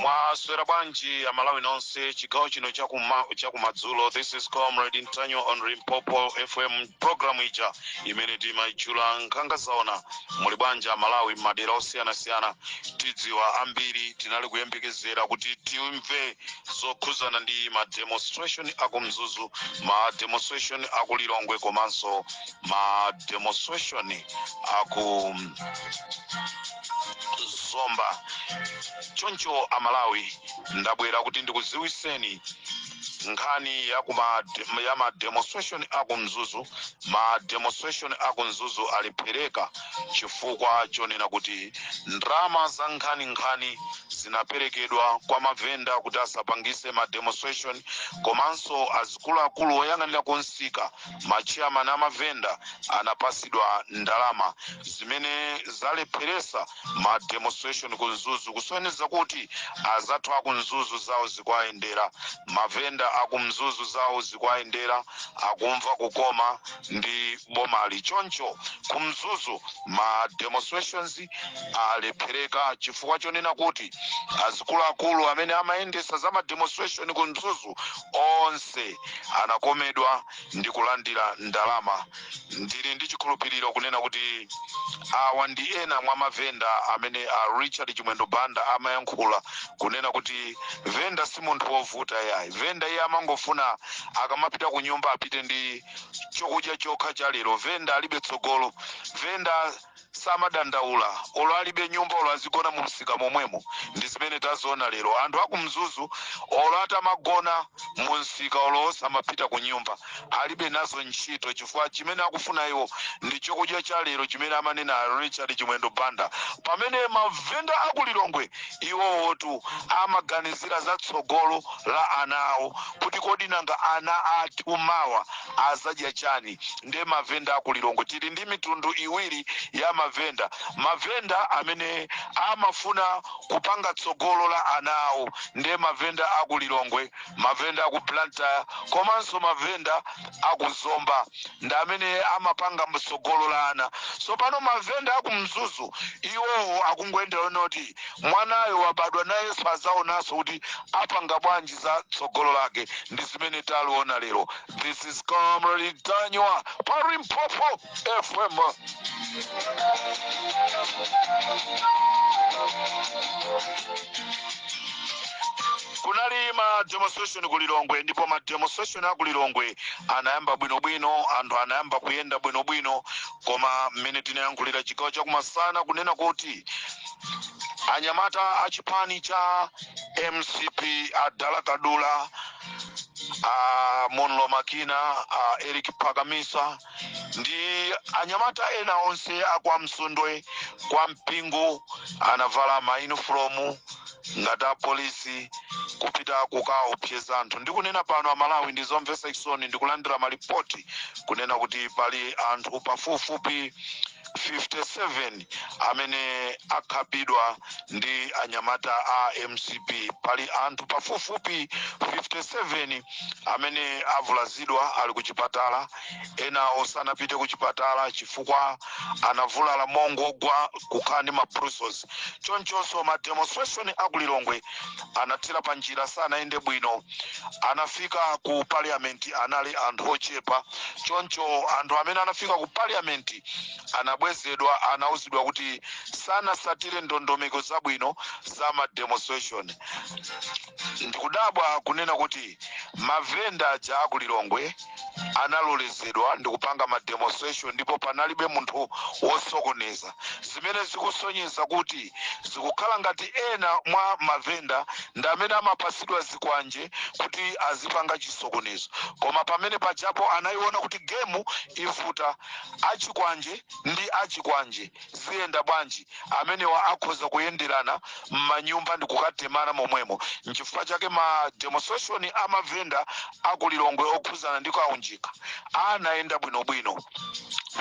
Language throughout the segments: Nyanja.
mwaswera bwanji amalawi nonse chigawo chino chakumadzulo this is comrade ntanyiwa on limpopo fm program ija imene timaitchula nkhanga zaona muli bwanji amalawi m'madera osiyanasiyana tidziwa ambiri tinali kuyembekezera kuti timve zokhuzana ndi ma demonstration aku mzuzu ma demonstration aku lilongwe komanso ma demonstration aku zomba choncho amalawi ndabwera kuti ndikuziwiseni nkhani ya ma demonstration aku mzuzu ma demonstration aku mzuzu alephereka chifukwa chonena kuti ndrama za nkhaninkhani zinaperekedwa kwa mavenda kuti asapangise ma demonstration komanso azikuluakulu oyang'anira kumsika machairman amavenda anapasidwa ndalama zimene zalepheresa ma demonstration ku mzuzu kusonyeza kuti azathu aku mzuzu zawo zikuwayendera mavenda aku mzuzu zawo zikuwayendera akumva kukoma ndi bomali choncho ku mzuzu ma demonstrations alephereka chifukwa chonena kuti azikuluakulu amene amayendesa za ma demonstration ku mzuzu Onse anakomedwa ndi kulandira ndalama. Ndili ndi chikhulupiriro kunena kuti awa ndi ena mwa mavenda amene a Richard Chimwendo Banda amayankhula kunena kuti venda si munthu wovuta yayi. Venda iye amangofuna akamapita ku nyumba apite ndi chokudya chokha cha lero. Venda alibe tsogolo. Venda samadandaula olo alibe nyumba olo azigona mu msika momwemo ndi zimene taziona lero anthu aku mzuzu olo atamagona mu msika olo osamapita ku nyumba alibe nazo ntchito chifukwa chimene akufuna iwo ndi chokudya cha lero chimene amanena a richard chimwendo banda pamene mavenda aku lilongwe iwowotu amaganizira za tsogolo la ana awo kuti kodi nanga ana athu mawa azadya chani nde mavenda aku lilongwe tili ndi mitundu iwiri ya mavenda mavenda amene amafuna kupanga tsogolo la ana awo ndi mavenda aku lilongwe mavenda aku blantyre komanso mavenda aku zomba ndi amene amapanga tsogolo la ana tsopano mavenda aku mzuzu iwowo akungoyendera yonoti Mwanayo wabadwa nayenso azaonanso kuti apanga bwanji za tsogolo lake ndi zimene taziona lero this is comrade Ntanyiwa pa Limpopo FM kunali ma demonstration ku Lilongwe ndipo ma demonstration a ku Lilongwe anayamba bwinobwino anthu anayamba kuyenda bwinobwino koma mmene tinayankhulira chigawo chakumasana kunena kuti anyamata a chipani cha mcp a dala kadula a monile makina a eric pakamisa ndi anyamata ena onse akwa msundwe kwa mpingu anavala mayunifolomu ngati apolisi kupita kukaopseza anthu ndikunena pano amalawi ndi zomvetsa chisoni ndikulandira malipoti kunena kuti pali anthu pafupifupi 57 amene akhapidwa ndi anyamata a mcp pali anthu pafupifupi 57 amene avulazidwa ali ku chipatala ena osanapite ku chipatala chifukwa anavulala mongogwa kukhala ndi mabruises chonchonso ma demonstration akulilongwe anathera pa njira sanayende bwino anafika ku parliament anali anthu ochepa choncho anthu amene anafika ku parliament anabwezedwa anauzidwa kuti sanasatire ndondomeko zabwino za ma demonstration ndikudabwa kunena kuti mavenda aja akulilongwe analolezedwa ndi kupanga ma demonstration ndipo panalibe munthu wosokoneza zimene zikusonyeza kuti zikukhala ngati ena mwa mavenda ndi amene amapatsidwa zikwanje kuti azipanga chisokonezo koma pamene pajapo anayiona kuti gemu ivuta achikwanje ndi achikwanje Ziyenda bwanji? Amenewa akhoza kuyenderana m'manyumba ndikukatemana momwemo. Nchifukwa chake ma demonstration a ma vendor a ku Lilongwe okhuzana ndi Kaunjika anayenda bwino bwino.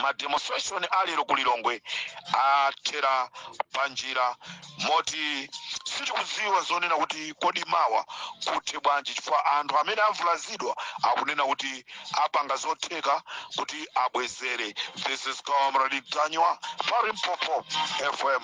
Ma demonstration a lero ku Lilongwe athera panjira. moti sitikudziwa zonena kuti kodi mawa kuthe bwanji chifukwa anthu amene avulazidwa akunena kuti apanga zotheka kuti abwezere this is comrade ntanyiwa pa limpopo fm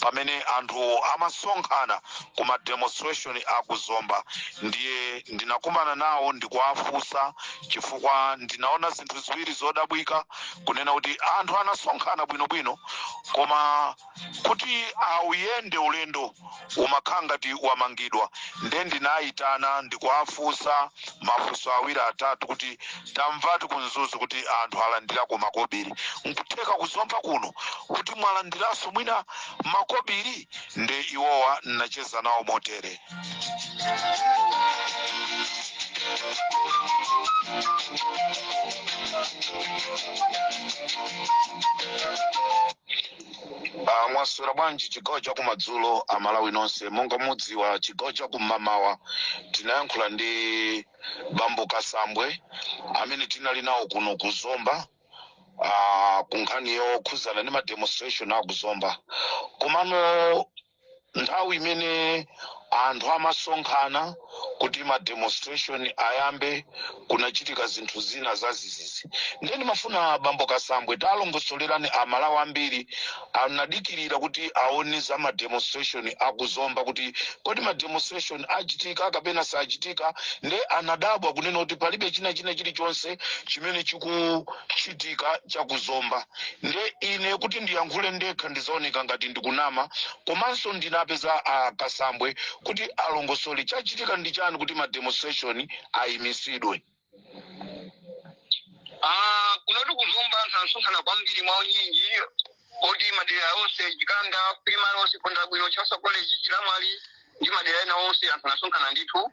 pamene anthu amasonkhana ku ma demonstration a ku zomba ndiye ndinakumana nawo ndikuwafunsa chifukwa ndinaona zinthu ziwiri zodabwika kunena kuti anthu anasonkhana bwinobwino koma kuti auyende ulendo umakhala ngati wamangidwa nde ndinayitana ndikuwafunsa mafunso awiri atatu kuti tamvatu ku mzuzu kuti anthu alandirako makobiri nkutheka kuzomba kuno kuti mwalandiranso mwina makobiri nde iwowa ndinacheza nawo motere Uh, mwaswera bwanji chigawo cha kumadzulo amalawi nonse monga mudziwa chigawo cha kum'mamawa tinayankhula ndi bambo kasambwe amene tinali nawo kuno ku zomba uh, ku nkhani yokhudzana ndi mademonstration a ku zomba komano nthawi imene anthu amasonkhana kuti ma demonstration ayambe kunachitika zinthu zina zazizizi ndiye ndimafuna bambo kasambwe talongosolerani amalawi ambiri anadikirira kuti aone za ma demonstration akuzomba kuti kodi ma demonstration achitika kapena sachitika nde anadabwa kunena kuti palibe china china chilichonse chimene chikuchitika chakuzomba nde ine kuti ndiyankhule ndekha ndizaoneka ngati ndikunama komano ndinapeza a kasambwe kuti alongosole chachitika ndi chani kuti ma demonstration ayimisidwe Ah, kuno ku zomba anthu anasonkhana kwambiri mwa unyinji moti madera onse chikanda primary onse pondabwino chancellor college chinamwali ndi madera ena onse anthu anasonkhana ndithu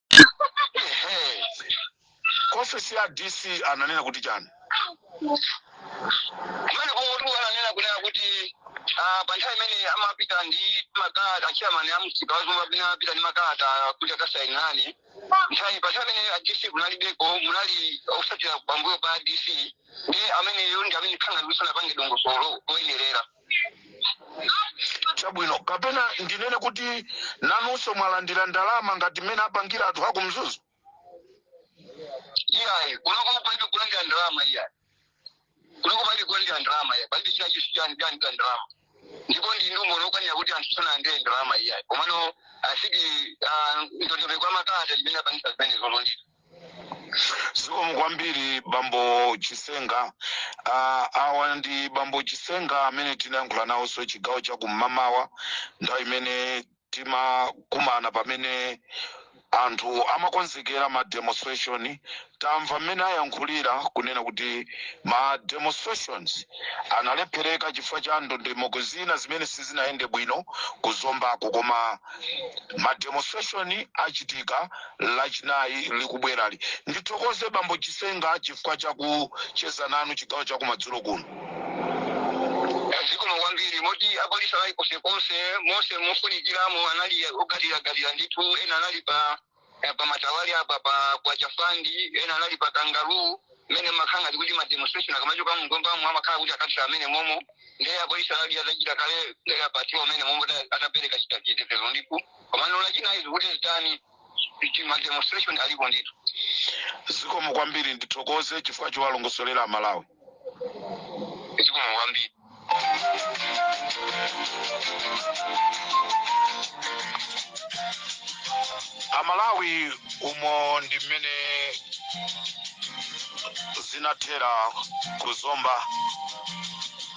Ehe. Ku ofesi ya DC ananena kuti chani? Kumene komweko ananena kunena kuti ah, pa nthawi imene amapita ndi makalata atcheyamani a msika wazomba amene amapita ndi makalata kuti akasainire nthawi pa nthawi imene a DC kunalibeko kunali otsatira pambuyo pa a DC ndi ameneyo ndi amene akhala asanapange dongosolo loyenerera chabwino kapena ndinene kuti nanunso mwalandira ndalama ngati mmene apangira anthu aku mzuzu iyayi kunoko palibe kulandira ndalama iyayi kunoko palibe kulandira ndalama iyayi palibe china chilichonse cha ndalama ndipo ndi umboni wokwanira kuti anthu sanalandire ndalama iyayi komano asidi ndondomeko ya makalata imene yapangitsa zimene zolondita zikomo kwambiri bambo chisenga Ah, awa ndi bambo chisenga amene tinayankhula nawonso chigawo cha kum'mamawa nthawi imene timakumana pamene anthu amakonzekera ma demonstration tamva mmene ayankhulira kunena kuti ma demonstrations analephereka chifukwa cha ndondomeko zina zimene sizinayende bwino kuzombako koma mademonstration achitika lachinayi likubwerali ndithokoze bambo chisenga chifukwa chakucheza nanu chigawo chakumadzulo kuno zikomo kwambiri moti apolisi anali konsekonse monse mofunikiramo anali ogawidwagawidwa ndithu ena anali pa eh, pa matawali apa pa kwa chafandi ena anali pa kangaroo mmene amakhala ngati kuti mademonstration akamachoka mgombamo amakhala kuti akathera mmenemomo ndiye apolisi anali atachita kale eh, pati mmenemomo kuti akapereke chita chitetezo ndithu komano lachinayi zikuti zitani kuti mademonstration alipo ndithu zikomo kwambiri ndithokoze chifukwa chowalongosolera amalawi zikomo kwambiri amalawi umo ndi mmene zinathera ku zomba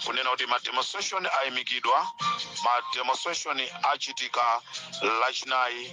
kunena kuti mademonstration ayimikidwa mademonstration achitika lachinayi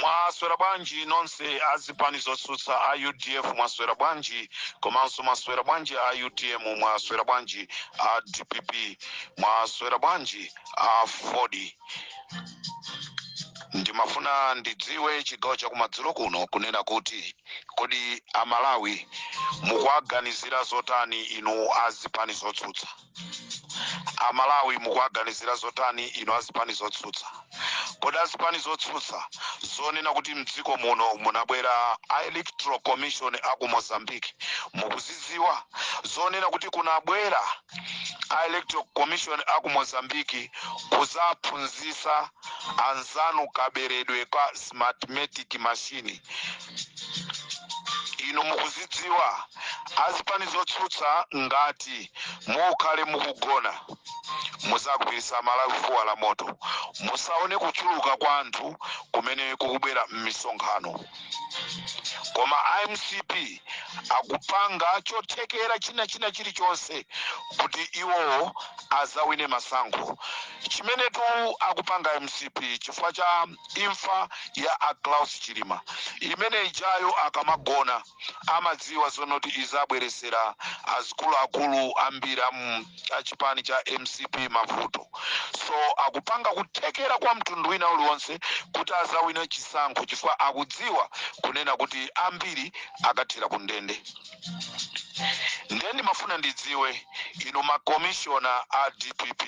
mwaswera bwanji nonse azipani zotsutsa a udf mwaswera bwanji komanso mwaswera bwanji a utm mwaswera bwanji a dpp mwaswera bwanji a aford ndimafuna ndidziwe chigawo chakumadzulo kuno kunena kuti kodi amalawi mukuwaganizira zotani inu azipani zotsutsa amalawi mukuwaganizira zotani inu azipani zotsutsa kodi azipani zotsutsa zonena kuti mdziko muno munabwera a electoral commission aku mozambique mukuzidziwa zonena kuti kunabwera a electoral commission a ku mozambique kuzaphunzisa anzanu kaberedwe ka smartmatic machine inu mukuzidziwa azipani zotsutsa ngati mukhale mukugona muzagwirisa malawi fuwa la moto musaone kuchuluka kwa anthu kumene kukubwera m'misonkhano koma a mcp akupanga chothekera china china chilichonse kuti iwowo azawine masankho chimenetu akupanga mcp chifukwa cha imfa ya a klaus chilima imene ijayo akamagona amadziwa zonoti izabweresera azikuluakulu ambiri amu cha chipani cha mcp mavuto so akupanga kuthekera kwa mtundu wina uliwonse kuti azawine chisankho chifukwa akudziwa kunena kuti ambiri akathera ku ndende ndiye ndimafuna ndidziwe inu makomishona a dpp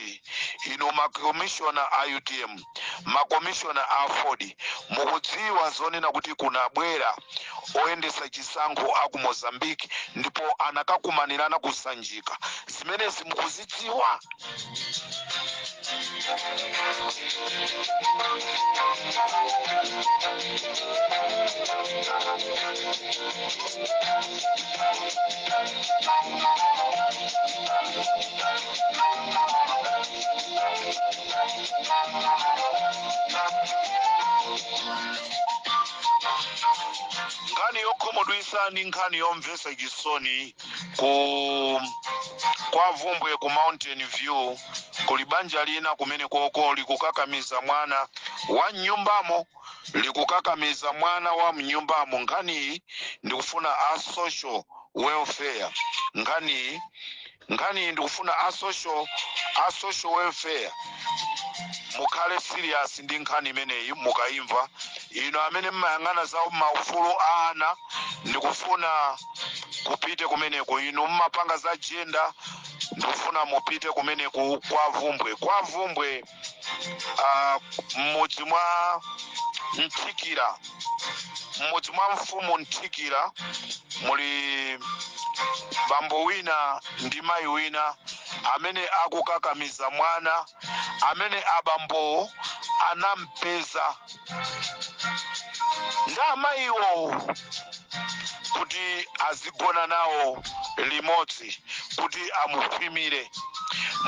inu makomishona a utm makomishona a aford mukudziwa zonena kuti kunabwera oyendesa chisankho aku mozambique ndipo anakakumanirana ku sanjika zimenezi mukuzidziwa nkhani yokhumudwitsa ndi nkhani yomvetsa chisoni kwa vumbwe ku mountain view kuli banja lina kumene koko likukakamiza mwana wa mnyumbamo likukakamiza mwana wa mnyumbamo nkhaniyi ndikufuna a social welfare nkhaniyi Nkhaniyi ndikufuna a social welfare mukhale serious ndi nkhani imeneyi mukaimva inu amene mmayang'ana za maufulu a ana ndikufuna mupite kumeneko inu mmapanga za jenda ndikufuna mupite kumeneko kwa vumbwe kwa vumbwe ah, m'mudzi mwa mthikira m'mudzi mwa mfumu mthikira muli bambo wina ndi mayi wina amene akukakamiza mwana amene abambowo anampeza ndi amayiwo kuti azigona nawo limodzi kuti amukhwimire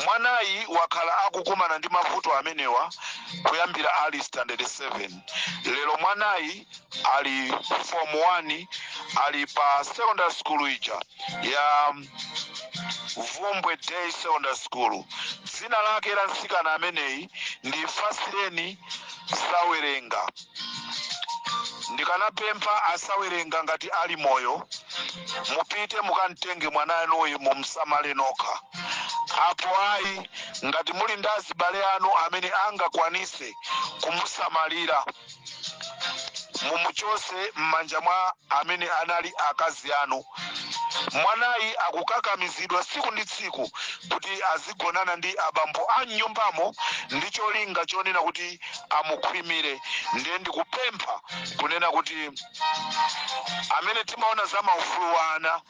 mwanayi wakhala akukumana ndi mavuto amenewa kuyambira ali standard 7 lero mwanayi ali form 1 ali pa secondary school ija ya vumbwe day secondary school dzina lake la mtsikana ameneyi ndi fasireni sawerenga ndikanapempha asawerenga ngati ali moyo mupite mukamtenge mwana wanuyu mumsamale nokha apo ayi ngati muli ndi azibale anu amene angakwanitse kumusamalira mumuchotse m'manja mwa amene anali akazi anu Mwanayi akukakamizidwa tsiku ndi tsiku kuti azigonana ndi abambo a m'nyumbamo ndi cholinga chonena kuti amukhwimire. Ndiye ndikupempha kunena kuti amene timaona za maufulu a ana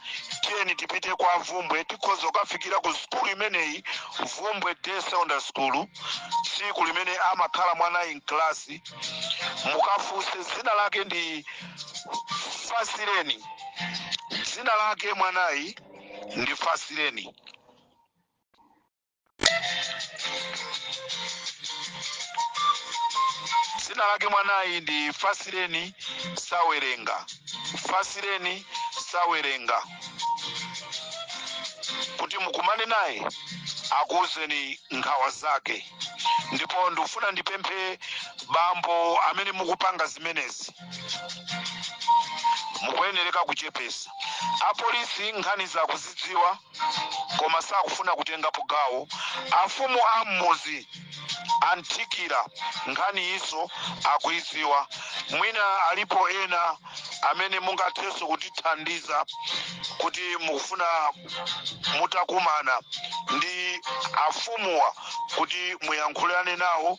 tiyeni tipite kwa vumbwe tikhoza kukafikira ku sukulu imeneyi vumbwe day secondary school tsiku limene amakhala mwanayi mklasi mukafunse dzina lake ndi fasireni dzina lake mwanayi ndi fasireni dzina lake mwanayi ndi fasireni sawerenga fasireni sawerenga kuti mukumane naye akuwuzeni nkhawa zake ndipo ndikufuna ndipemphe bambo amene mukupanga zimenezi mukuyenereka kuchepesa apolisi nkhanizi akuzidziwa koma sakufuna kutengapo gawo afumu a mmuzi a Nthikira nkhaniyinso akuidziwa mwina alipo ena amene mungathenso kutithandiza kuti mukufuna mutakumana ndi afumuwa kuti muyankhulane nawo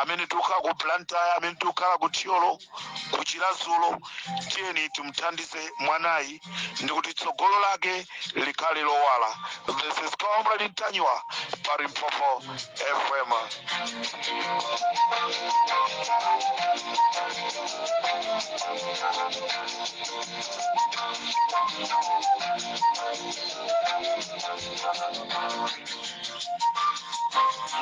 amene tikukhala ku Blantyre amene tikukhala ku thyolo ku chiradzulu tiyeni timuthandize mwanayi ndi kuti tsogolo lake likhale lowala this is comrade ntanyiwa pa limpopo fm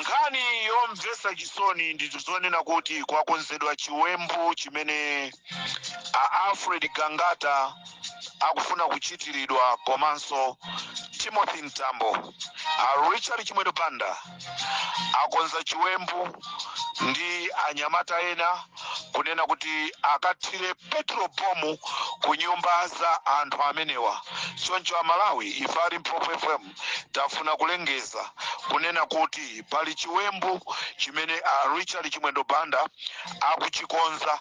nkhani yomvetsa chisoni ndi yonena kuti kwakonzedwa chiwembu chimene a alfred gangata akufuna kuchitiridwa komanso timothy mtambo a richard chimwendo banda akonza chiwembu ndi anyamata ena kunena kuti akathire petro bomu ku nyumba za anthu amenewa choncho amalawi ife a limpopo fm tafuna kulengeza kunena kuti pali chiwembu chimene a richard chimwendo banda akuchikonza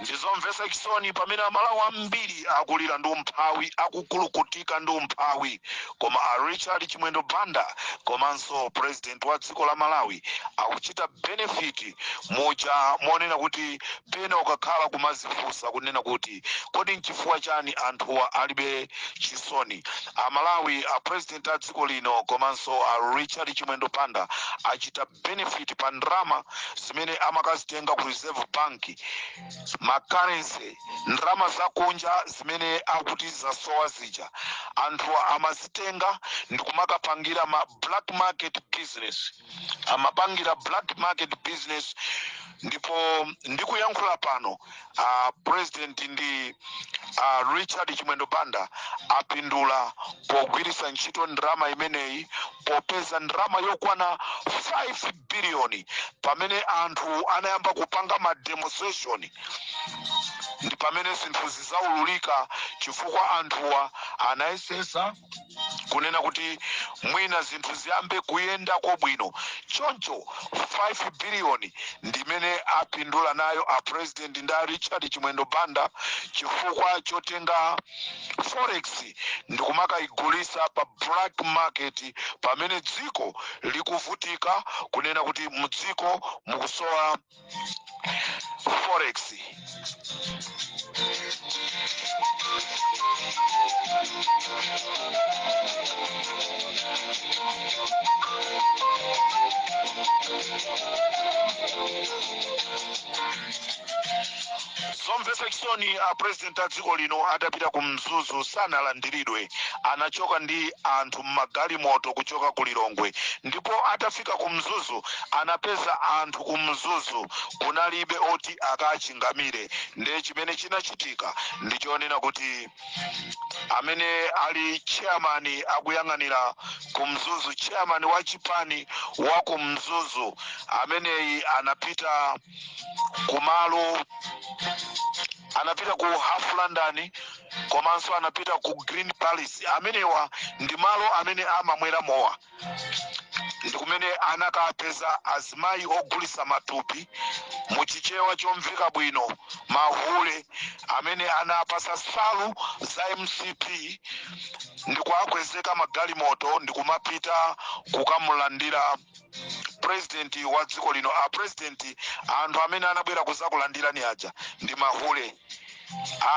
ndizomvetsa chisoni pamene amalawi ambiri akulira ndi umphawi akukulukutika ndi umphawi koma a richard chimwendo banda komanso president wa dziko la malawi akuchita benefit muja monena kuti pena ukakhala kumazifunsa kunena kuti kodi nchifukwa chani anthuwa alibe chisoni? A Malawi a president a dziko lino komanso a Richard Chimwendo Banda achita benefit pa ndalama zimene amakazitenga ku Reserve Bank ma currency ndalama zakunja zimene akuti zasowa zija anthuwa amazitenga ndikumakapangila ma black market business. amapangira black market business ndipo ndikuyankhula pano a president ndi a richard chimwendo banda apindula pogwiritsa ntchito ndalama imeneyi popeza ndalama yokwana 5 biliyoni pamene anthu anayamba kupanga ma demonstration ndi pamene zinthuzi zaululika chifukwa anthuwa anayesesa kunena kuti mwina zinthu ziyambe kuyendako bwino choncho 5 biliyoni ndimene apindula nayo a president ndi a richard chimwendo banda chifukwa chotenga forex ndikumakayigulisa pa black market pamene dziko likuvutika kunena kuti mdziko mukusowa forex zomvetsa chisoni a president a dziko lino atapita ku mzuzu sanalandiridwe anachoka ndi anthu m'magalimoto kuchoka ku lilongwe ndipo atafika atafika ku mzuzu anapeza anthu ku mzuzu kunalibe oti akachingamire ndiye chimene chinachitika ndi chonena kuti amene ali chairman akuyang'anira ku mzuzu chairman wa chipani wa ku mzuzu ameneyi anapita kumalo anapita ku half london komanso anapita ku green palace amenewa ndi malo amene amamwera mowa ndi kumene anakapeza azimayi ogulisa matupi mu chichewa chomveka bwino mahule amene anawapasa salu za mcp ndi kuakwezeka magalimoto ndi kumapita kukamulandira purezidenti wa dziko lino a purezidenti anthu amene anabwera kuzakulandirani aja ndi mahule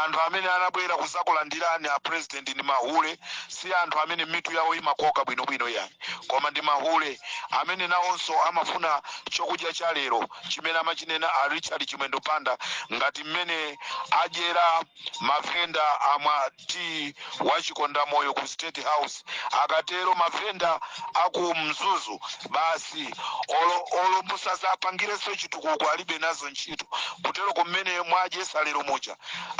anthu amene anabwera kuzakulandirani a president ndi mahule si anthu amene mitu yawo imakoka bwinobwino yani koma ndi mahule amene nawonso amafuna chokudya cha lero chimene amachinena a richard chimwendo banda ngati mmene adyera mavenda amwa tiyi wa chikondamoyo ku state house akatero mavenda aku mzuzu basi olo musazapangireso chitukuko alibe nazo ntchito kuteroko mmene mwadyesa lero muja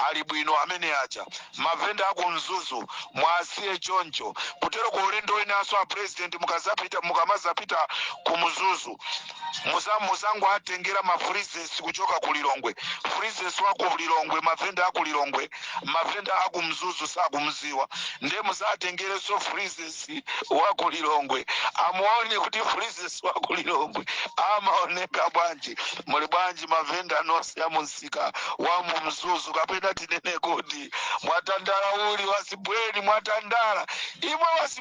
ali bwino amene aja mavenda aku mzuzu muwasiye choncho kuteroko ulendo winaso a president mukamazapita ku mzuzu muzangoatengera ma freezes kuchoka ku lilongwe freezes wa ku lilongwe mavenda aku lilongwe mavenda aku mzuzu sakumziwa nde muzatengereso freezes wa ku lilongwe amuone kuti freezes wa ku lilongwe amaoneka bwanji muli bwanji mavenda nonse a mumsika wa mu mzuzu kapena tinene kuti mwatandala uli wasibweni mwatandala imwe wasi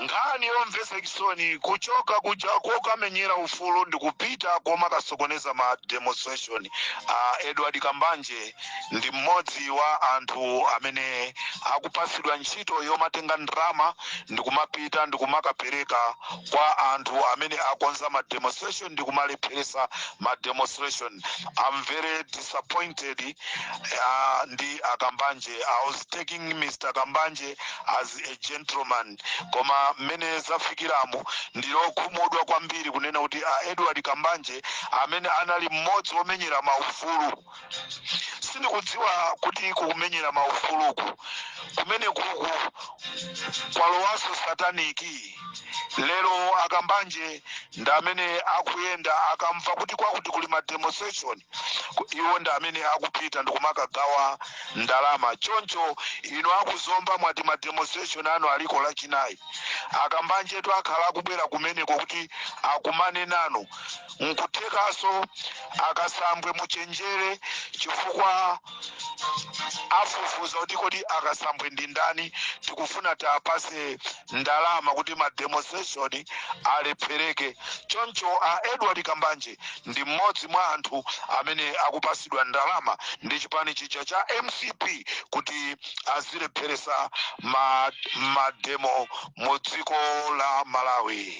nkhani yomvetsa chisoni kuchoka kuja kokamenyera ufulu ndikupita koma akusokoneza ma demonstration a edward kambanje ndi mmodzi wa anthu amene akupatsidwa ntchito yomatenga ndalama ndikumapita ndikumakapereka kwa anthu amene akonza ma demonstration ndi kumalepheresa ma demonstration i'm very disappointed uh, ndi akambanje i was taking mr kambanje as a gentleman koma mmene zafikiramu ndili okhumudwa kwambiri kunena kuti a edward kambanje amene anali mmodzi womenyera maufulu sindikudziwa kuti kumenyera maufuluku kumene kuku kwalowanso sataniki lero akambanje ndi amene akuyenda akamva kuti kwakuti kuli ma demonstration ku- iwo ndi amene akupita ndikumakagawa ndalama choncho inu aku Zomba mwati ma demonstration anu aliko lachinayi akambanjetu akhala akubwera kumeneko kuti akumane nanu nkuthekaso akasambwe muchenjere chifukwa afufuza kuti kodi akasambwe ndi ndani tikufuna tiapase ndalama kuti ma demonstration alephereke choncho a edward kambanje ndi mmodzi mwa anthu amene akupasidwa ndalama ndi chipani chija cha mcp kuti azilepheresa mademo mu dziko la malawi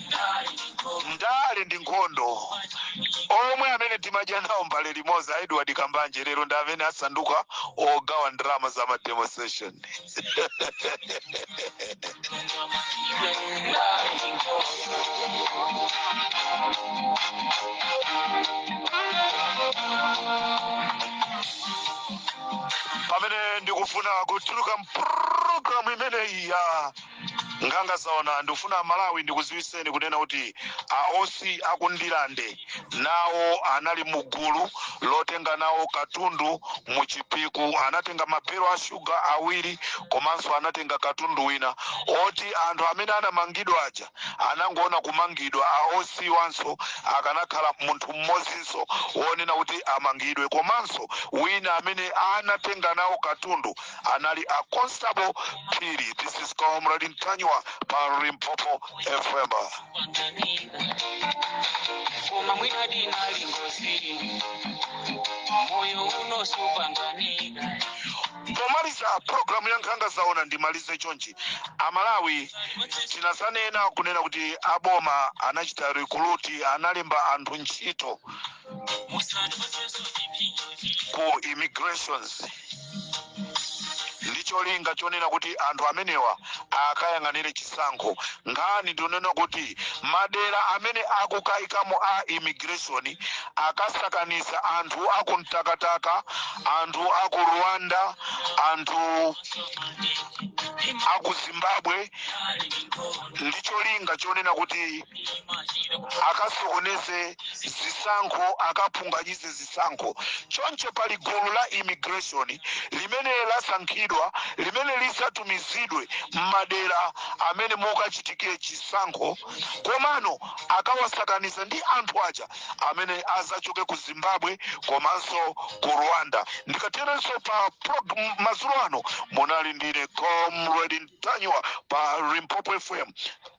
ndale ndi nkhondo omwe amene timadya nawo mbale imodzi a edward kambanje lero ndi amene asanduka ogawa ndalama za ma demonstration pamene ndikufuna kutuluka mpulogalamu imeneyi ya nkhanga zaona ndikufuna amalawi ndikuziwiseni kunena kuti aosi aku Ndirande nawo anali mugulu lotenga nawo katundu mu chipiku anatenga mabelo a shuga awiri komanso anatenga katundu wina oti anthu amene anamangidwa aja anangoona kumangidwa aosiwanso akanakhala munthu mmodzinso wonena kuti amangidwe komanso wina amene anatenga nawo katundu anali a Constable Phiri this is Comrade Ntanyiwa pa Limpopo FM koma mwina dinali ngozi moyo uno supanganika pomaliza pulogalamu ya nkhanga zaona ndimalize chonchi amalawi tinazanena kunena kuti aboma anachita recruit analemba anthu ntchito ku immigrations ndi cholinga chonena kuti anthu amenewa akayang'anire chisankho nkhani ndi yonena kuti madera amene akukayikamo a immigration akasakaniza anthu aku mtakataka anthu aku rwanda anthu aku zimbabwe ndi cholinga chonena kuti akasokoneze zisankho akaphunganyize zisankho. Choncho pali gulu la immigration limene lasankhidwa limene lidzatumizidwe m'madera amene mukachitikire chisankho komano akawasakaniza ndi anthu aja amene adzachoke ku Zimbabwe komanso ku Rwanda. Ndikaterenso pa madzulo ano munali ndine Comrade Ntanyiwa pa Limpopo FM.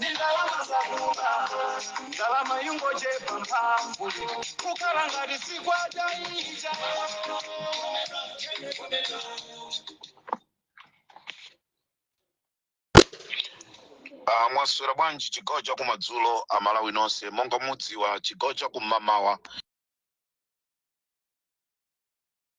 ndalama zakuba ndalama yungochepa mphamvu kukhala ngati si kwacha ija Ah, mwaswera bwanji chigawo cha kumadzulo amalawi nonse monga mudziwa chigawo cha kumamawa